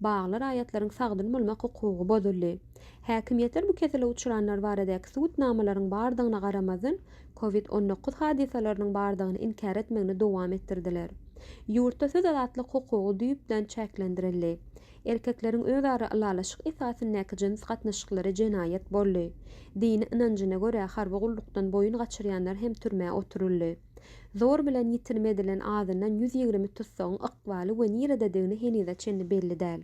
Bagly raýatlaryň sagdyn bolmak hukugy bozuldy. Häkimiýetler bu kesele uçranlar baradaky subutnamalaryň bardygyna garamazdan, covid on dokuz hadysalarynyň bardygyny inkär etmegini dowam etdirdiler. Ýurtda söz azatlyk hukugy düýpden çäklendirildi. Erkekleriň özara ylalaşyk esasyndaky jyns gatnaşyklary jenaýat boldy. Dini ynanjyna görä harby gullukdan boýun gaçyrýanlar hem türmä oturyldy. Zor bilen ýitirim edilen azyndan ýüz ýigrimi tussagyň ykbaly we nirededigini henize çenli belli däl.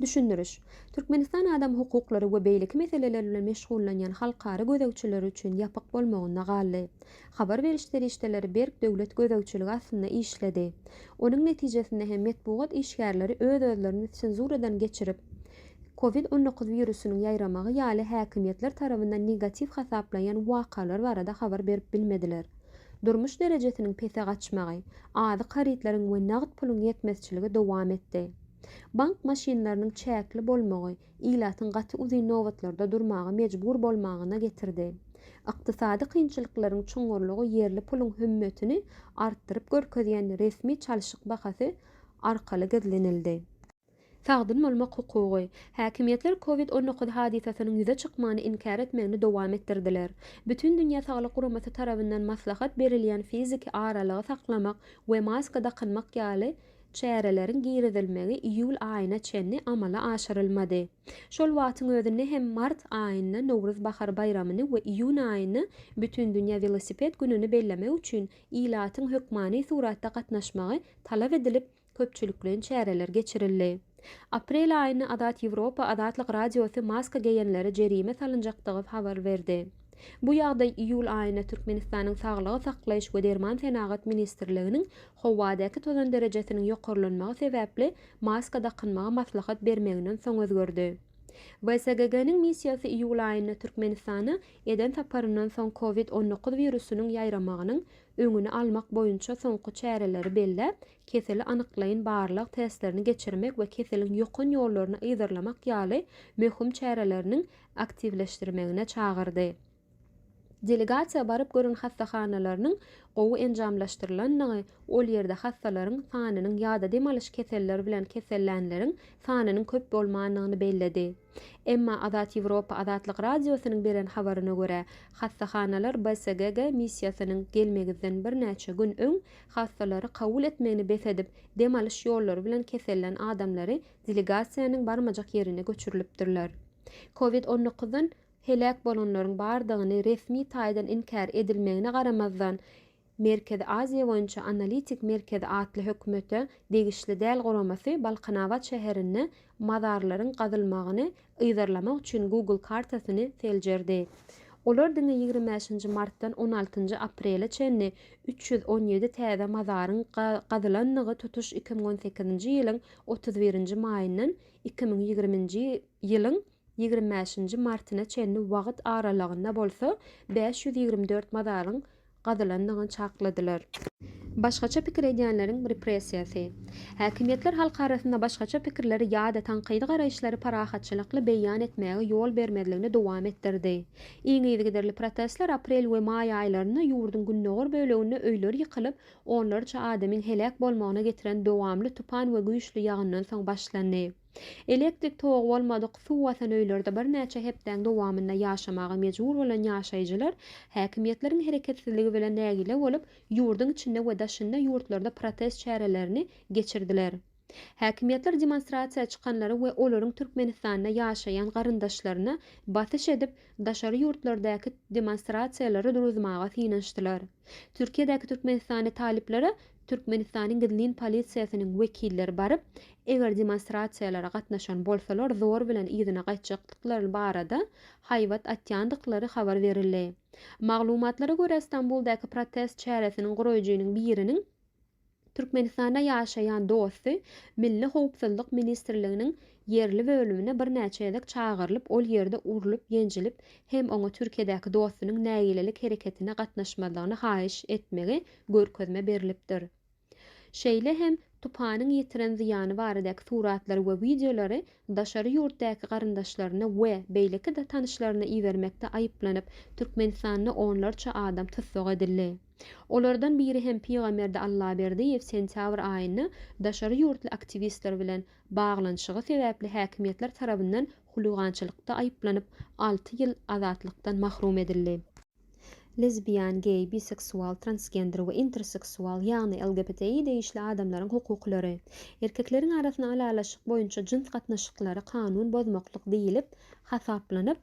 Düşündiriş. Türkmenistan adam hukuklary we beýleki meseleler bilen meşgullanýan halkara gözegçileri üçin ýapyk bolmagynda galdy. Habar beriş serişdeleri berk döwlet gözegçiligi astynda işledi. Onuň netijesinde hem metbugat işgärleri öz-özlerini senzuradan geçirip, Covid on dokuz wirusynyň ýaýramagy ýaly häkimiýetler tarabyndan negatiw hasaplaýan wakalar barada habar berip bilmediler. Durmuş derejesiniň pese gaçmagy, azyk harytlaryň we nagt puluň ýetmezçiligi dowam etdi. Bank maşynlarynyň çäkli bolmagy ilatyň gaty uzyn nobatlarda durmaga mejbur bolmagyna getirdi. Ykdysady kynçylyklaryň çuňňurlygy ýerli puluň hümmetini artdyryp görkezýän resmi çalşyk bahasy arkaly gizlenildi. Sagdyn bolmak hukugy. Häkimiýetler Covid on dokuz hadysasynyň ýüze çykmagyny inkär etmegini dowam etdirdiler. Bütindünýä Saglyk Guramasy tarabyndan maslahat berilýän fiziki aralygy saklamak we maska dakynmak ýaly çäreleriň girizilmegi iýul aýyna çenli amala aşyrylmady. Şol wagtyň özünde hem mart aýynda Nowruz bahar baýramyny we iýun aýynda Bütindünýä welosiped gününi bellemek üçin ilatyň hökmany suratda gatnaşmagy talap edilip, köpçülikleýin çäreler geçirildi. Aprel aýynda Azat Ýewropa Azatlyk Radiosy maska geýenlere jerime salynjakdygy habar berdi. Bu ýagdaý iýul aýynda Türkmenistanyň Saglygy saklaýyş we derman senagat ministrliginiň howadaky tozan derejesiniň ýokarlanmagy sebäpli maska dakynmagy maslahat bermeginden soň özgerdi. WSGG-niň missiýasy iýul aýynda Türkmenistana eden saparyndan soň covid on dokuz wirusynyň ýaýramagynyň öňüni almak boýunça soňky çäreleri belläp, keseli anyklaýyn barlag testlerini geçirmek we keseliň ýokan ýollaryny yzarlamak ýaly möhüm çäreleriniň aktiwleşdirmegine çagyrdy. Delegasiýa baryp gören hassahanalarynyň gowy enjamlaşdyrylandygy, ol ýerde hassalaryň sanynyň ýa-da dem alyş keselleri bilen kesellänleriň sanynyň köp bolmandygyny belledi. Emma Azat Ýewropa Azatlyk Radiosynyň beren habaryna görä, hassahanalar BSGG missiýasynyň gelmegizden birnäçe gün öň hassalary kabul etmegini bes edip, dem alyş ýollary bilen kesellän adamlary delegasiýanyň barmajak ýerine göçürilipdirler. Covid on dokuzdan heläk bolanlaryň bardygyny resmi taýdan inkär edilmegine garamazdan, Merkezi Aziýa boýunça analitik merkezi atly hökümete degişli däl guramasy Balkanabat şäherinde mazarlaryň gazylmagyny yzarlamak üçin Google kartasyny seljerdi. Olar diňe ýigrimi bäşinji martdan on altynjy aprele çenli üç ýüz on ýedi täze mazaryň gazylandygy tutuş iki müň on sekizinji ýylyň otuz birinji maýyndan iki müň ýigriminji ýylyň ýigrimi bäşinji martyna çenli wagt aralygynda bolsa bäş ýüz ýigrimi dört mazaryň gazylandygyny çakladylar. Başgaça pikir edýänleriň repressiýasy. Häkimiýetler halk arasynda başgaça pikirleri ýa-da tankydy garaýyşlary parahatçylykly beýan etmäge ýol bermezligini dowam etdirdi. Iň yzygiderli protestler aprel we maý aýlarynda ýurduň gündogar böleginde öýler ýykylyp, onlarça adamyň heläk bolmagyna getiren dowamly tupan we güýçli ýagyndan soň başlandy. Elektrik togy bolmadyk, suw basan öýlerde birnäçe hepdäň dowamynda ýaşamaga mejbur bolan ýaşaýjylar häkimiýetleriň hereketsizligi bilen nägile bolup, ýurduň içinde we daşynda ýurtlarda protest çärelerini geçirdiler. Häkimiýetler demonstrasiýa çykanlary we olaryň Türkmenistanda ýaşaýan garyndaşlaryna basyş edip, daşary ýurtlardäki demonstrasiýalary duruzmaga synanyşdylar. Türkiýedäki türkmenistanly talyplara Türkmenistanyň gizlin polisiýasynyň wekilleri baryp, eger demonstrasiýalara gatnaşan bolsalar zor bilen yzyna gaýtjakdyklary barada haýbat atýandyklary habar berildi. Maglumatlara görä Stambuldaky protest çäresiniň guraýjynyň biriniň Türkmenistanda ýaşaýan dosty Milli howpsuzlyk ministrliginiň ýerli bölümine birnäçe gezek çagyrylyp ol ýerde urlup ýenjilip hem oňa Türkiýedäki dostunyň nägilelik hereketine gatnaşmazlygyny haýyş etmegi görkezme berilipdir. Şeýle hem tupanyň ýetiren zyýany baradaky suratlary we wideolary daşary ýurtdaky garyndaşlaryna we beýleki-de tanyşlaryna ibermekde aýyplanyp, Türkmenistanda onlarça adam tussag edildi. Olardan biri hem Pygamberdi Allaberdiýew sentýabr aýynda daşary ýurtly aktiwistler bilen baglanyşygy sebäpli häkimiýetler tarabyndan huligançylykda aýyplanyp, alty ýyl azatlykdan mahrum edildi. Lesbian, geý, biseksual, transgender we interseksual, ýagny LGBTI degişli adamlaryň hukuklary. Erkekleriň arasynda ylalaşyk boýunça jyns gatnaşyklary kanun bozmaklyk diýlip hasaplanyp,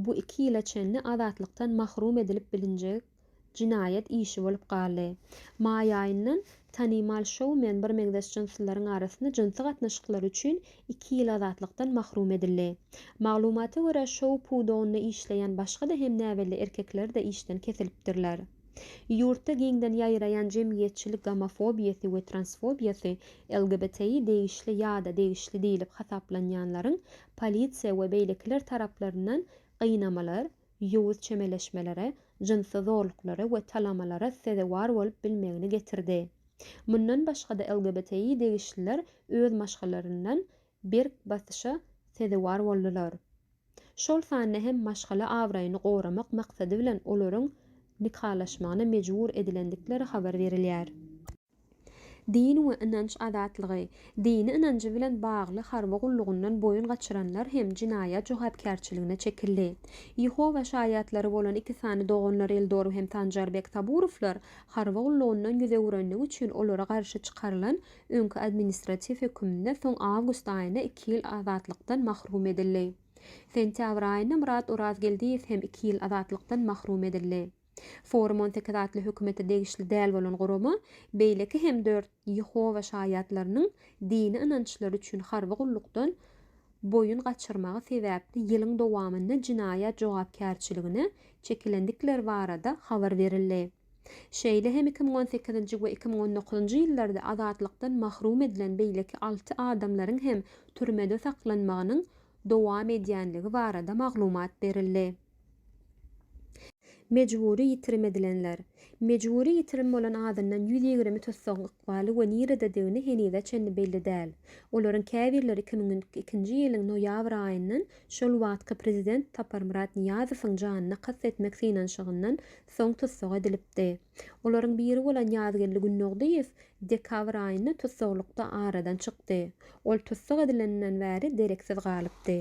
bu iki ýyla çenli azatlykdan mahrum edilip bilinjek jinaýat işi bolup galdy. Maý aýyndan Tanymal şoumen birmeňzeş jynslylaryň arasynda jynsy gatnaşyklary üçin iki ýyl azatlykdan mahrum edildi. Maglumata görä, şou pudagynda işleýän başga-da hem näbelli erkekler-de işden kesilipdirler. Ýurtda giňden ýaýraýan jemgyýetçilik gomofobiýasy we transfobiýasy, LGBTI degişli ýa-da degişli diýlip hasaplanýanlaryň polisiýa we beýlekiler taraplaryndan gynamalar, ýowuz çemeleşmelere, jynsy zorluklara we talamalara sezewar bolup bilmegini getirdi. Mundan başga-da LGBTI degişliler öz maşgalaryndan berk basyşa sezewar boldular. Şol sanda hem maşgala abraýyny goramak maksady bilen olaryň nikalaşmagyna mejbur edilendikleri habar berilýär. Din we ynanç azatlygy, dini ynanjy bilen bagly harby gullugyndan boýun gaçyranlar hem jenaýat jogapkärçiligine çekildi. Ýehowa şaýatlary bolan iki sany doganlar Eldor hem Sanjarbek Saburowlar harby gullugyndan ýüz öwürendigi üçin olara garşy çykarylan öňki administratiw höküminde soň awgust aýynda iki ýyl azatlykdan mahrum edildi. Sentýabr aýynda Myrat Orazgeldiýew hem iki ýyl azatlykdan mahrum edildi. Forum on sekiz atly hökümete degişli däl bolan gurama beýleki hem dört Ýehowa Şaýatlarynyň dini ynançlary üçin harby gullukdan boýun gaçyrmagy sebäpli ýylyň dowamynda jenaýat jogapkärçiligine çekilendikleri barada habar berildi. Şeýle hem iki müň on sekizinji we iki müň on dokuzynjy ýyllarda azatlykdan mahrum edilen beýleki alty adamlaryň hem türmede saklanmagynyň dowam edýänligi barada maglumat berildi. Mejbury ýitirim edilenler. Mejbury ýitirim bolan azyndan ýüz ýigrimi tussagyň ykbaly we nirededigini henize çenli belli däl. Olaryň käbirleri iki müň ikinji ýylyň noýabr aýyndan şol wagtky prezident Saparmyrat Nyýazowyň janyna kast etmek synanyşygyndan soň tussag edilipdi. Olaryň biri bolan Ýazgeldi Gündogdyýew dekabr aýynda tussaglykda aradan çykdy. Ol tussag edileninden bäri dereksiz galypdy.